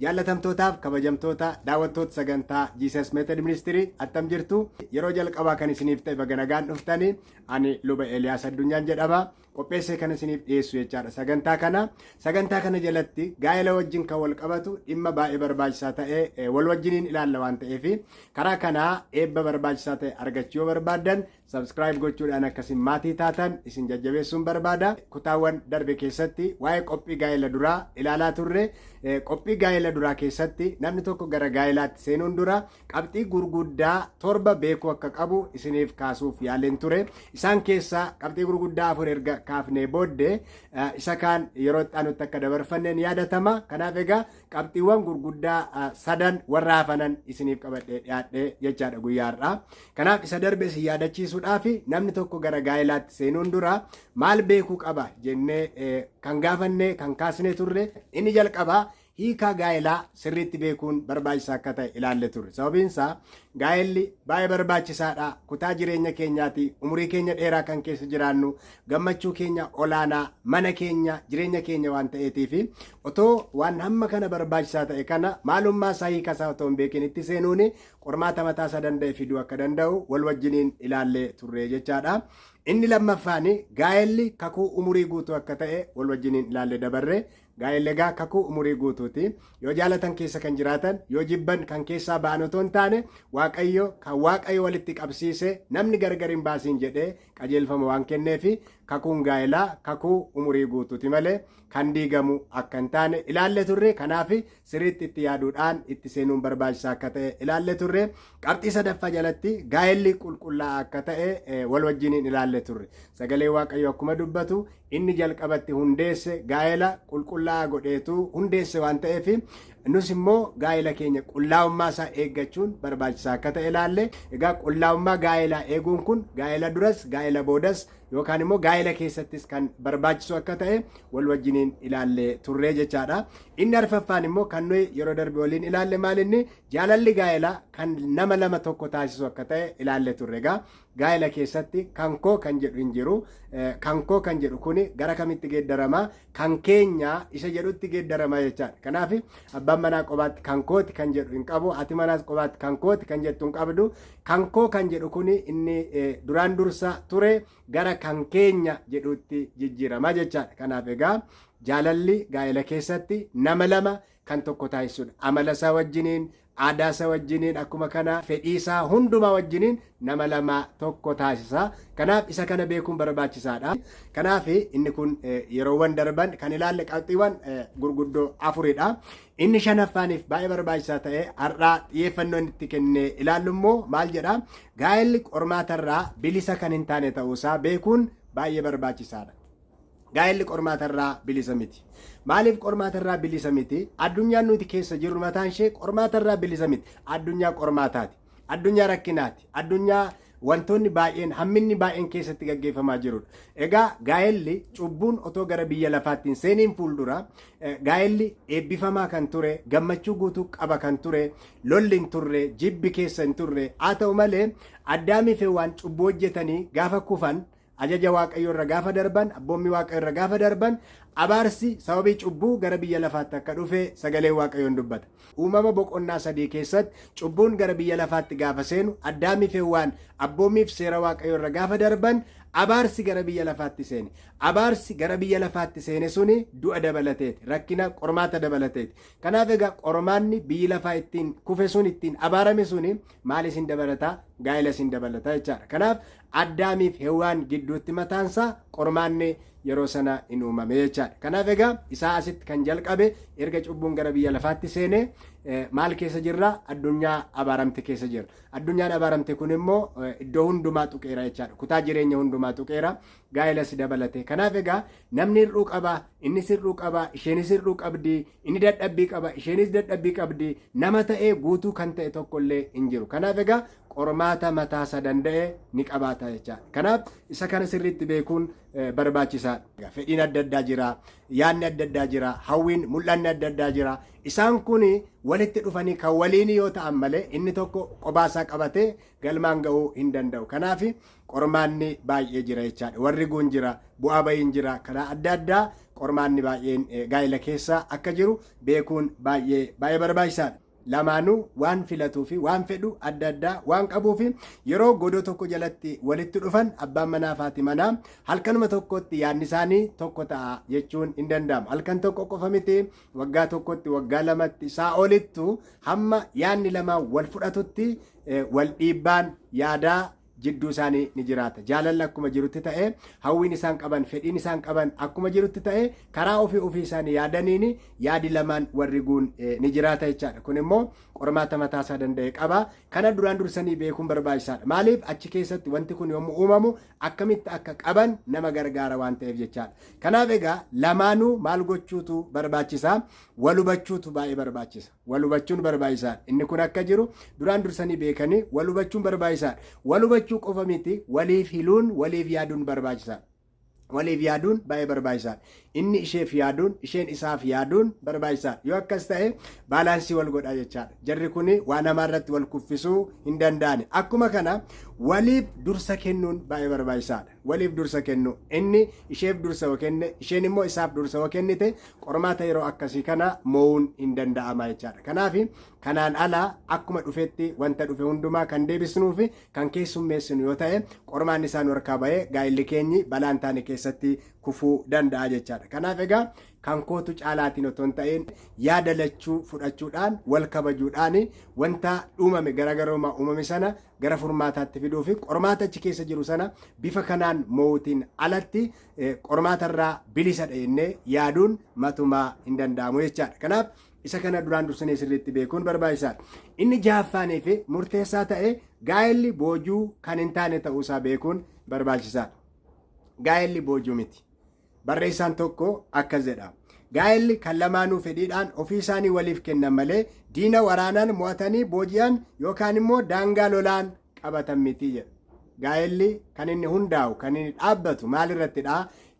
Jaallatamtootaaf kabajamtoota daawwattoota sagantaa Jesus Method Ministry attam jirtu yeroo jalqabaa kan isiniif ta'e baga nagaan dhuftani ani luba Eliyaas Addunyaan jedhama. qopheessee kan isiniif dhiyeessu jechaadha sagantaa kana sagantaa kana jalatti gaa'ela wajjin kan wal qabatu dhimma baay'ee barbaachisaa ta'e eh, wal wajjiniin ilaalla waan ta'eef karaa kanaa eebba barbaachisaa ta'e argachuu yoo barbaaddan sabskiraayib gochuudhaan akkasiin maatii taatan isin jajjabeessuun barbaada kutaawwan darbe keessatti waa'ee qophii gaa'ela duraa ilaalaa turre eh, qophii gaa'ela duraa keessatti namni tokko gara gaa'elaatti seenuun dura qabxii gurguddaa torba beekuu akka qabu isiniif kaasuuf yaaleen ture. Isaan keessaa qabxii gurguddaa afur erga kaafnee booddee eh, isa kaan yeroo itti aanutti akka dabarfanne ni yaadatama. Kanaaf egaa qabxiiwwan gurguddaa eh, sadan warra hafanan isiniif qabadhee dhiyaadhee jechaadha guyyaa har'aa. Kanaaf isa darbe isin yaadachiisuudhaaf namni tokko gara gaa'elaatti seenuun dura maal beekuu qaba jennee eh, kan gaafannee kan kaasnee turre inni jalqabaa Hiika gaa'elaa sirriitti beekuun barbaachisaa akka ta'e ilaalle turre. Sababiin isaa gaa'elli baay'ee barbaachisaadha. Kutaa jireenya keenyaati. Umurii keenya dheeraa kan keessa jiraannu gammachuu keenya olaanaa mana keenya jireenya keenya waan ta'eetiif otoo waan hamma kana barbaachisaa ta'e kana maalummaa isaa hiika isaa otoo hin beekin itti seenuun qormaata mataa isaa danda'e fiduu akka danda'u wal wajjiniin ilaalle turre jechaadha. Inni lammaffaan gaa'elli kakuu umurii guutuu akka ta'e wal wajjiniin ilaalle dabarre Gaa'elli egaa kakuu umurii guutuuti. Yoo jaalatan keessa kan jiraatan, yoo jibban kan keessaa ba'an otoo hin taane, Waaqayyo kan Waaqayyo walitti qabsiise namni gargar hin baasiin jedhee qajeelfama waan kenneefi kakuun gaa'elaa kakuu umurii guutuuti malee kan diigamu akka hin taane ilaalle turre. Kanaaf siriitti itti yaaduudhaan itti seenuun barbaachisaa akka ta'e ilaalle turre. Qabxii sadaffaa jalatti gaa'elli qulqullaa'aa akka ta'e wal wajjiniin ilaalle turre. Sagalee Waaqayyoo akkuma dubbatu inni jalqabatti hundeesse gaa'ela qulqullaa'aa godheetu hundeesse waan ta'eef nus immoo gaa'ela keenya qullaa'ummaa isaa eeggachuun barbaachisaa akka ta'e ilaalle. Egaa qullaa'ummaa gaa'elaa eeguun kun gaa'ela duras gaa'ela boodas yookaan immoo gaa'ela keessattis kan barbaachisu akka ta'e wal wajjiniin ilaalle turre jechaadha. Inni arfaffaan immoo kan nuyi yeroo darbe waliin ilaalle maal inni jaalalli gaa'elaa kan nama lama tokko taasisu akka ta'e ilaalle turre egaa gaa'ela keessatti kan koo kan jedhu hin jiru kan koo kan jedhu kuni gara kamitti geeddarama kan keenya isa jedhutti geeddarama jechaadha kanaaf abbaan manaa qobaatti kan kooti kan jedhu hin qabu ati manaas qobaatti kan kooti kan jettu hin qabdu kan koo kan jedhu kuni inni duraan dursa ture gara kan keenya jedhuutti jijjiirama jechaadha. Kanaaf egaa jaalalli gaa'ela keessatti nama lama kan tokko taasisudha. Amala isaa wajjiniin, aadaa isaa wajjiniin akkuma kana fedhii isaa hundumaa wajjiniin nama lama tokko taasisa. Kanaaf isa kana beekuun barbaachisaadha. Kanaaf inni kun yeroowwan darban kan ilaalle qabxiiwwan gurguddoo afuridha. Inni shanaffaaniif baay'ee barbaachisaa ta'e har'aa xiyyeeffannoo inni itti kennee ilaallu immoo maal jedha? gaa'elli qormaatarraa bilisa kan hin taane ta'uusaa beekuun baay'ee barbaachisaadha. Gaa'elli qormaatarraa bilisa miti. Maaliif qormaatarraa bilisa miti? Addunyaan nuti keessa jirru mataan ishee qormaatarraa bilisa miti. Addunyaa qormaataati. Addunyaa rakkinaati. Addunyaa wantoonni baay'een hamminni baay'een keessatti gaggeeffamaa jirudha. Egaa gaa'elli cubbuun otoo gara biyya lafaatti hin seeniin fuuldura Gaa'elli eebbifamaa kan ture, gammachuu guutuu qaba kan ture, lolli hin turre, jibbi keessa hin turre. Haa ta'u malee Addaamii fi Hewwaan cubbuu hojjetanii gaafa kufan, ajaja Waaqayyoo irra gaafa darban, abboommii Waaqayyoo irra gaafa darban, abaarsi sababii cubbuu gara biyya lafaatti akka dhufe sagaleen Waaqayyoo hin dubbata. Uumama boqonnaa sadii keessatti cubbuun gara biyya lafaatti gaafa seenu Addaamii fi Hewwaan abboommii fi seera Waaqayyoo irra gaafa darban abaarsi gara biyya lafaatti seene. Abaarsi gara biyya lafaatti seene suni du'a dabalateeti, rakkina, qormaata dabalateeti. Kanaaf egaa qormaanni biyyi lafaa ittiin kufe sun ittiin abaarame suni maal isin dabalata gaa'ela isin dabalata jechaadha kanaaf addaamiif hewaan gidduutti mataansaa qormaanni yeroo sana hin uumame jechaadha kanaaf egaa isaa asitti kan jalqabe erga cubbuun gara biyya lafaatti seene maal keessa jirra addunyaa abaaramte keessa jirra addunyaan abaaramte kun immoo iddoo hundumaa tuqeera jechaadha kutaa jireenya hundumaa tuqeera gaa'elas dabalatee. Kanaaf egaa namni hir'uu qaba, innis hir'uu qaba, isheenis hir'uu qabdi, inni dadhabbii qaba, isheenis dadhabbii qabdi, nama ta'ee guutuu kan ta'e tokko illee hin jiru. Kanaaf egaa qormaata mataasa danda'e ni qabaata jecha. Kanaaf isa kana sirriitti beekuun eh, barbaachisaadha. Fedhiin adda addaa jira, yaadni adda addaa jira, hawwiin mul'anni adda addaa jira. Isaan kun walitti dhufanii kan waliinii yoo ta'an malee inni tokko qobaasaa qabatee galmaan ga'uu hin danda'u. Kanaaf qormaanni baay'ee jira jechaadha. Warri guun jira, bu'aa bahiin jira, karaa adda addaa qormaanni baay'een gaa'ila keessa akka jiru beekuun baay'ee baay'ee barbaachisaadha. Lamaanuu waan filatuu fi waan fedhu adda addaa waan qabuu fi yeroo godoo tokko jalatti walitti dhufan abbaan manaa fi haati manaa halkanuma tokkotti yaadni isaanii tokko ta'a jechuun hin danda'amu. Halkan tokko qofa miti waggaa tokkotti waggaa lamatti isaa olittu hamma yaadni lamaan wal fudhatutti wal dhiibbaan yaadaa jidduu isaanii ni jiraata. Jaalalli akkuma jirutti ta'ee hawwiin isaan qaban fedhiin isaan qaban akkuma jirutti ta'ee karaa ofii ofii isaanii yaadaniin yaadi lamaan warri guun eh, ni jiraata jechaadha. Kun immoo qormaata mataa isaa danda'e qaba. Kana duraan dursanii beekuun barbaachisaadha. Maaliif achi keessatti wanti kun yommuu uumamu akkamitti akka qaban nama gargaara waan ta'eef jechaadha. Kanaaf egaa lamaanuu maal gochuutu barbaachisa? Wal hubachuutu baay'ee barbaachisa. Wal hubachuun barbaachisaadha. Inni kun akka jiru duraan dursanii beekanii wal hubachuun barbaachisaadha. Wal hubachuu qofa miti waliif hiluun waliif yaaduun barbaachisaadha. Waliif yaaduun baay'ee barbaachisaadha. Inni isheef yaaduun isheen isaaf yaaduun barbaachisaadha. Yoo akkas ta'e baalaansii wal godha jechaadha. Jarri kun waa namaa irratti wal kuffisuu hin danda'ani. Akkuma kana waliif dursa kennuun baay'ee barbaachisaadha. waliif dursa kennu. Inni isheef dursa yoo kenne, isheen immoo isaaf dursa yoo kennite, qormaata yeroo akkasii kana mo'uun hin danda'ama jechaadha. Kanaaf kanaan ala akkuma dhufetti wanta dhufe hundumaa kan deebisnuu fi kan keessummeessinu yoo ta'e, qormaanni isaa nu harkaa ba'ee gaa'illi keenyi balaa hin taane keessatti kufuu danda'a jechaadha. Kanaaf egaa kan kootu caalaatiin otoo hin ta'in yaada lachuu fudhachuudhaan wal kabajuudhaan wanta uumame garaagarummaa uumame sana gara furmaataatti fiduu fi qormaata achi keessa jiru sana bifa kanaan moo'uutiin alatti qormaata irraa bilisadha jennee yaaduun matumaa hin danda'amu jechaadha. Kanaaf isa kana duraan dursinee sirriitti beekuun barbaachisaadha. Inni jahaffaanii fi murteessaa ta'e gaa'elli boojuu kan hin taane ta'uusaa beekuun barbaachisaadha. Gaa'elli boojuu miti. Barreessaan tokko akkas jedha. Gaa'elli kan lamaanuu fedhiidhaan ofii isaanii waliif kennan malee diina waraanaan mo'atanii booji'an yookaan immoo daangaa lolaan qabatan miti jedha. Gaa'elli kan inni hundaa'u, kan inni dhaabbatu maal irrattidha?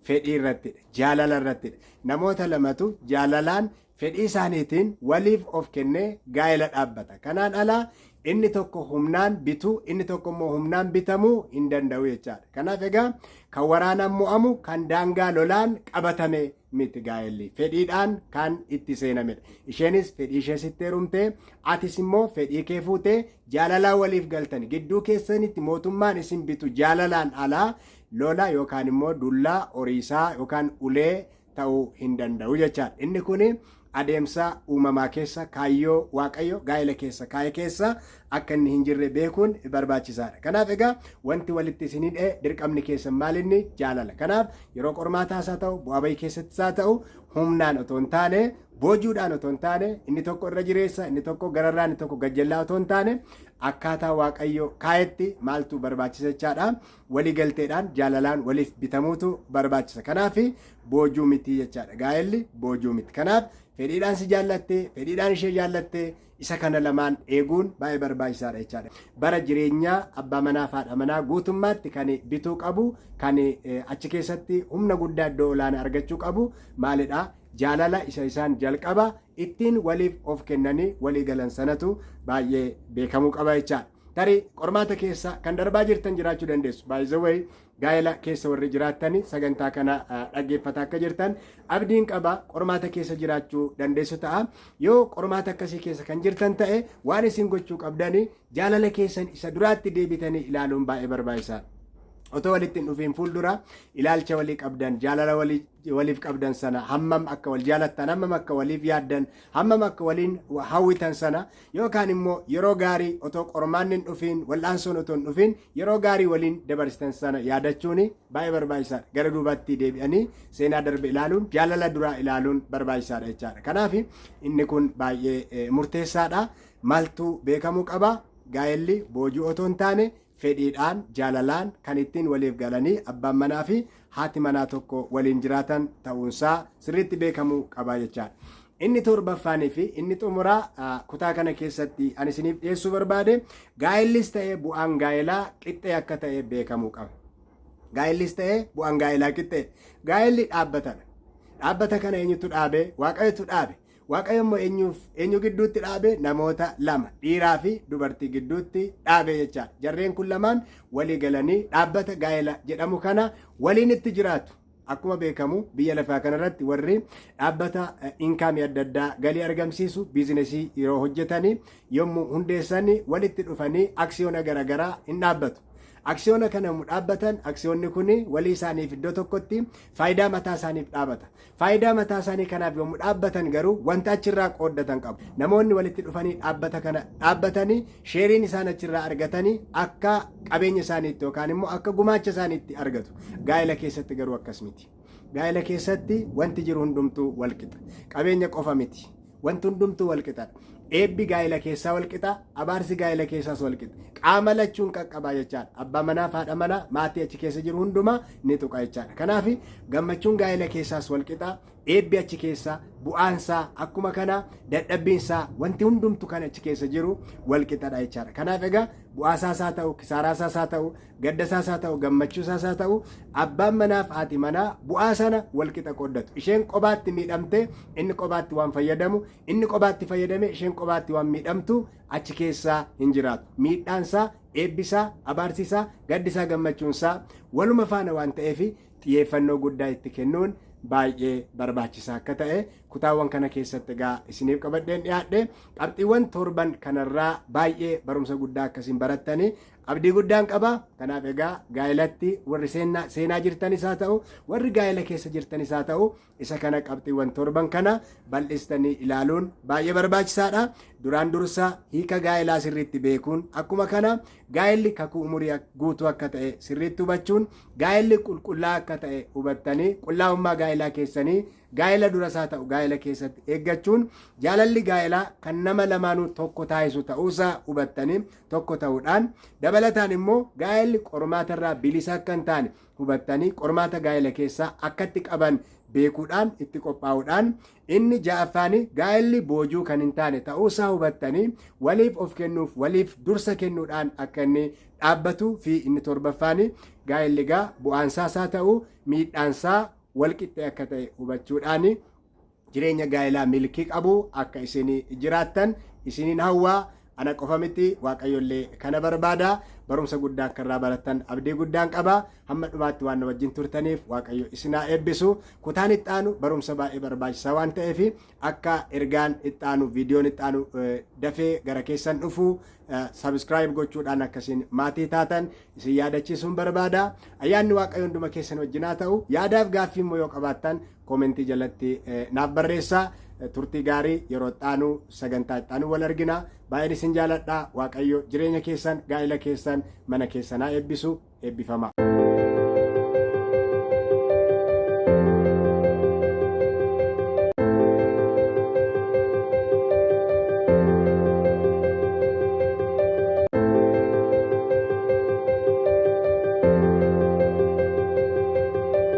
Fedhii irrattidha, jaalala irrattidha. Namoota lamatu jaalalaan fedhii isaaniitiin waliif of kennee gaa'ela dhaabbata. Kanaan ala inni tokko humnaan bituu, inni tokko immoo humnaan bitamuu hin danda'u jechaadha. Kanaaf egaa kan waraanaan mo'amu kan daangaa lolaan qabatame miti gaa'elli. Fedhiidhaan kan itti seenamedha. Isheenis fedhii ishee sitti heerumtee, atis immoo fedhii kee fuutee jaalalaa waliif galtan. Gidduu keessanitti mootummaan isin bitu jaalalaan alaa lola yookaan immoo dullaa, horiisaa yookaan ulee ta'uu hin danda'u jechaadha. Inni kun adeemsa uumamaa keessa kaayyoo Waaqayyo gaa'ela keessa kaa'e keessa akka inni hin jirre beekuun barbaachisaadha. Kanaaf egaa wanti walitti isin hidhe dirqamni keessan maal inni jaalala. Kanaaf yeroo qormaataas haa ta'u bu'aa bahii keessattis haa ta'u humnaan otoo hin taane boojuudhaan otoo hin taane inni tokko irra jireessa inni tokko gararraa inni tokko gajjallaa otoo hin taane akkaataa Waaqayyo kaa'etti maaltu barbaachisa jechaadha. Wali galteedhaan jaalalaan waliif bitamuutu barbaachisa. Kanaaf boojuu miti jechaadha. Gaa'elli boojuu miti. Kanaaf fedhiidhaan si jaallattee, fedhiidhaan ishee jaallattee isa kana lamaan eeguun baay'ee barbaachisaadha jechaadha. Bara jireenyaa abbaa manaa fi haadha manaa guutummaatti kan bituu qabu, kan achi keessatti humna guddaa iddoo olaanaa argachuu qabu maalidha? Jaalala isa isaan jalqaba ittiin waliif of kennanii walii galan sanatu baay'ee beekamuu qaba jechaadha. Tarii qormaata keessa kan darbaa jirtan jiraachuu dandeessu. By the way, gaa'ela keessa warri jiraattanii sagantaa kana dhaggeeffata akka jirtan abdiin qaba qormaata keessa jiraachuu dandeessu ta'a. Yoo qormaata akkasii keessa kan jirtan ta'e waan isin gochuu qabdanii jaalala keessan isa duraatti deebitanii ilaaluun baay'ee barbaachisaadha. Otoo walitti hin dhufiin fuuldura ilaalcha walii qabdan jaalala walii waliif qabdan sana hammam akka wal jaalattan hammam akka waliif yaaddan hammam akka waliin hawwitan sana yookaan immoo yeroo gaarii otoo qormaanni hin dhufiin wal'aansoon otoo hin dhufiin yeroo gaarii waliin dabarsitan sana yaadachuun baay'ee barbaachisaadha gara duubaatti deebi'anii seenaa darbe ilaaluun jaalala duraa ilaaluun barbaachisaadha jechaadha kanaaf inni kun baay'ee murteessaadha maaltu beekamuu qaba gaa'elli boojuu otoo hin taane fedhiidhaan, jaalalaan kan ittiin waliif galanii abbaan manaa fi haati manaa tokko waliin jiraatan ta'uunsaa sirriitti beekamuu qaba jechaadha. Inni torbaffaanii fi inni xumuraa ah, kutaa kana keessatti ani isiniif dhiyeessuu barbaade gaa'ellis ta'e bu'aan gaa'elaa qixxee akka ta'e beekamuu qaba. Gaa'ellis ta'e bu'aan gaa'elaa qixxee. Gaa'elli dhaabbatadha. Dhaabbata kana eenyutu dhaabe? Waaqayyotu dhaabe. Waaqayyo immoo eenyuuf eenyu gidduutti dhaabe namoota lama dhiiraa fi dubartii gidduutti dhaabe jechaadha. Jarreen kun lamaan walii galanii dhaabbata gaa'ela jedhamu kana waliin itti jiraatu. Akkuma beekamu biyya lafaa kanarratti warri dhaabbata inkaamii adda addaa galii argamsiisu biizinesii yeroo hojjetanii yommuu hundeessanii walitti dhufanii aksiyoona garaagaraa hin dhaabbatu. Aksiyoona kana dhaabbatan aksiyoonni kun walii isaaniif iddoo tokkotti faayidaa mataa isaaniif dhaabata. Faayidaa mataasaanii kanaaf yommuu dhaabbatan garuu wanta achirraa qooddatan qabu. Namoonni walitti dhufanii dhaabbata kana dhaabbatanii sheeriin isaan achirraa argatanii akka qabeenya isaaniitti yookaan immoo akka gumaacha isaaniitti argatu. Gaa'ela keessatti garuu akkas miti. Gaa'ela keessatti wanti jiru hundumtuu walqixa. Qabeenya qofa miti. Wanti hundumtuu wal qixadha. Eebbi gaa'ela keessaa wal qixa, abaarsi gaa'ela keessaas wal qixa. Qaama lachuun qaqqabaa jechaadha. Abbaa manaa fi haadha manaa maatii achi keessa jiru hundumaa ni tuqa jechaadha. Kanaaf gammachuun gaa'ela keessaas wal qixa, eebbi achi keessa, bu'aansaa akkuma kana dadhabbiinsaa wanti hundumtu kan achi keessa jiru wal qixadha jechaadha. Kanaaf egaa bu'aasaasaa ta'u, kisaaraasaas haa ta'u, Gadda isaas haa ta'u gammachuu isaas haa ta'u abbaan manaaf haati manaa bu'aa sana wal qixa qooddatu. Isheen qobaatti miidhamtee inni qobaatti waan fayyadamu, inni qobaatti fayyadamee isheen qobaatti waan miidhamtu achi keessaa hin jiraatu. Miidhaan isaa, eebbi isaa, abaarsi isaa, gaddi isaa, gammachuun isaa waluma faana waan ta'eef xiyyeeffannoo guddaa itti kennuun baay'ee barbaachisaa akka ta'e kutaawwan kana keessatti egaa isiniif qabadheen dhiyaadhe qabxiiwwan torban kanarraa baay'ee barumsa guddaa akkasiin barattanii Abdii guddaan qaba. Kanaaf egaa gaa'elatti warri seenaa, seenaa jirtanis haa ta'u, warri gaa'ela keessa jirtanis haa ta'u, isa kana qabxiiwwan torban kana bal'istanii ilaaluun baay'ee barbaachisaadha. Duraan dursa hiika gaa'elaa sirriitti beekuun akkuma kana gaa'elli kakuu umurii ak- guutuu akka ta'e sirriitti hubachuun gaa'elli qulqullaa akka ta'e hubattanii qullaa'ummaa gaa'elaa keessanii gaa'ela duras haa ta'u gaa'ela keessatti eeggachuun jaalalli gaa'elaa kan nama lamaanuu tokko taasisu ta'uusaa hubattanii tokko ta'uudhaan dabalataan immoo gaa'elli qormaata irraa bilisa akka hin taane hubattanii qormaata gaa'ela keessaa akkatti qaban beekuudhaan itti qophaa'uudhaan inni ja'affaanii gaa'elli boojuu kan hin taane ta'uusaa hubattanii waliif of kennuuf waliif dursa kennuudhaan akka inni dhaabbatuu fi inni torbaffaanii gaa'elli gaa bu'aansaa isaa ta'uu miidhaansaa walqixxee akka ta'e hubachuudhaanii Jireenya gaa'elaa milkii qabu akka isin jiraattan isiniin hawwa. Ana qofa miti Waaqayyollee kana barbaada. Barumsa guddaa akka irraa barattan abdii guddaan qaba. Hamma dhumaatti waan na wajjin turtaniif Waaqayyo isin haa eebbisu. Kutaan itti aanu barumsa baay'ee barbaachisaa waan ta'eef akka ergaan itti aanu viidiyoon itti aanu eh, dafee gara keessan dhufu sabiskiraayib gochuudhaan akkasiin maatii taatan isin yaadachiisuun barbaada. Ayyaanni Waaqayyo hunduma keessan wajjin haa ta'u. Yaadaaf gaaffii immoo yoo qabaattan koomentii jalatti naaf barreessaa turtii gaarii yeroo ittaanu sagantaa ittaanu wal argina baay'een isin jaaladha waaqayyo jireenya keessan gaa'ila keessan mana keessanaa eebbisu eebbifama.